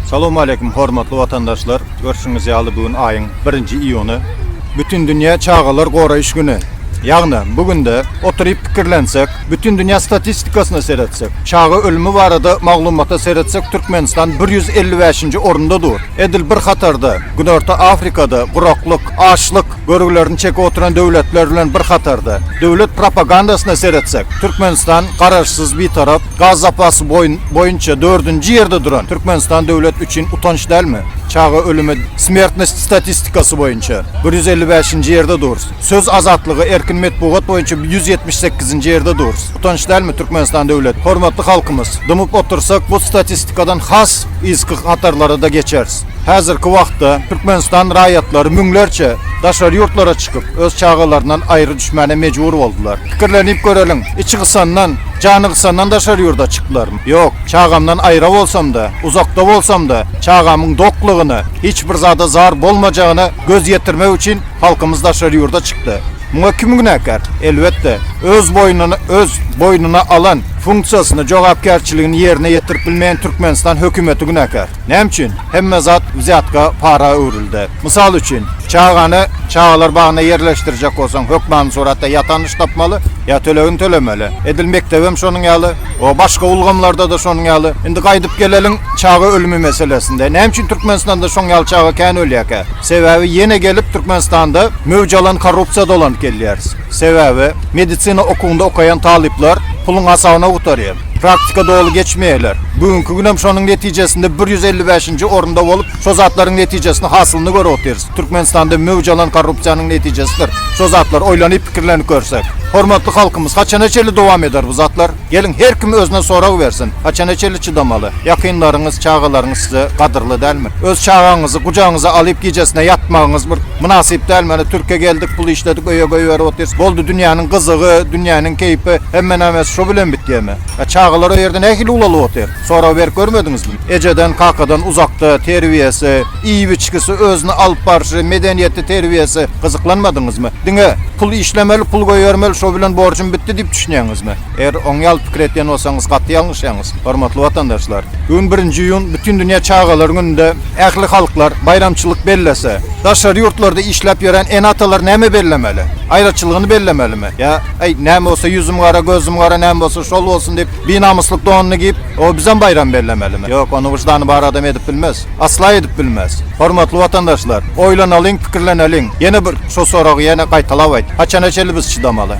Salowmaleýkim hormatly watandaşlar! Görşüňiz ýaly bu gün aýyň birinji iýuny. Bütindünýä çagalar goraýyş güni. Ýagny bu günde oturyp pikirlensek, bütindünýä statistikasyna seretsek, çaga ölümi barada maglumata seretsek Türkmenistan bir ýüz elli bäşinji orunda dur. Edil bir hatarda Günorta Afrikada guraklyk, açlyk, Görgülerini çekip oturan döwletler bilen bir hatarda, döwlet propagandasyna seretsek, Türkmenistan Garaşsyz, Bitarap, gaz zapasy boýunça dördünji ýerde duran Türkmenistan döwlet üçin utanç dälmi? Çaga ölümi, smertnost statistikasy boýunça bir ýüz elli bäşinji ýerde durus. Söz azatlygy, erkin metbugat boýunça ýüz ýetmiş sekizinji ýerde durus. Utanç dälmi Türkmenistan döwlet? Hormatly halkymyz, dymyp otursak bu statistikadan has yzky hatarlara-da geçeris. Häzirki wagtda Türkmenistan raýatlary müňlerçe daşary ýurtlara çykyp, öz çagalaryndan aýry düşmäne mejbur boldular. Pikirlenip göreliň, içi gysandan, jany gysandan daşary ýurda çyklaryn? Ýok. Çagamdan aýra bolsam-da, uzakda bolsam-da, çagamyň doklygyna, hiç bir zada zar bolmajagyna göz ýetirmek üçin halkymyz daşary ýurda çykdy. Muňa kim günäkär? Elbetde, öz boýnuna öz boýnuna alan funksiýasyny, jogapkärçiligini ýerine ýetirip bilmeýän Türkmenistan hökümeti günäkär. Näme üçin hemme zat wzýatka, para öwrüldi? Mysal üçin, çagany çagalar bagyna ýerleşdirjek bolsaň, hökmany suratda ýa tanyş tapmaly, ýa tölegini tölemeli. Edil mekdebem şonuň ýaly, o başga ulgamlarda-da şonuň ýaly. Indi gaýdyp geleliň çaga ölümi meselesinde. Näme üçin Türkmenistanda şoň ýaly çaga kän ölýärkä? Sebäbi ýene gelip Türkmenistanda möwç alan korrupsiýa dolanyp gelýäris. Sebäbi medisina okuwynda okaýan talyplar puluň hasabyna gutarýar. Praktika doly geçmeýärler. Bu günki günem şonuň netijesinde bir ýüz elli bäşinji orunda bolup, şo zatlaryň netijesini, hasylyny görüp otyrys. Türkmenistanda möwç alan korrupsiýanyň netijesidir şo zatlar, oýlanyp, pikirlenip görsek. Hormatly halkymyz, haçana çenli dowam eder bu zatlar? Geliň, her kim özüne sorag bersin, haçana çenli çydamaly? Ýakynlaryňyz, çagalaryňyz size gadyrly dälmi? Öz çagaňyzy gujagyňyza alyp gijesine ýatmagyňyz bir. Mynasyp däl mana türke geldik pul işledik öýe goýberip otyrys boldy dünýäniň gyzygy dünýäniň keýpi hemme nämäsi şo bilen bitýämi a çagalar o ýerde nähili ulalyp otyr sorag berip görmediňizmi ejeden kakadan uzakda terbiýesi iýip içgisi özüni alyp barşy medeniýeti terbiýesi gyzyklanmadyňyzmy diňe pul işlemeli pul goýbermeli şo bilen borjum bitdi diýip düşünýäňizmi. Eger oň ýaly pikir edýän bolsaňyz gaty ýalňyşýaňyz, hormatly watandaşlar. Bu gün birinji iýun Bütindünýä çagalar gününde ähli halklar baýramçylyk bellese, daşary ýurtlarda işläp ýören ene-atalar näme bellemeli? Aýraçylygyny bellemelimi? Ýa, Äý, näme bolsa ýüzüm gara, gözüm gara, näme bolsa şol bolsun diýip, binamyslyk donuny giýip, o bizem baýram bellemelimi? Ýok, ony wyždany bar adam edip bilmez. Asla edip bilmez. Hormatly watandaşlar, oýlanalyň, pikirleneliň. Ýene bir şo soragy ýene gaýtalap aýt, haçana çenli biz çydamaly?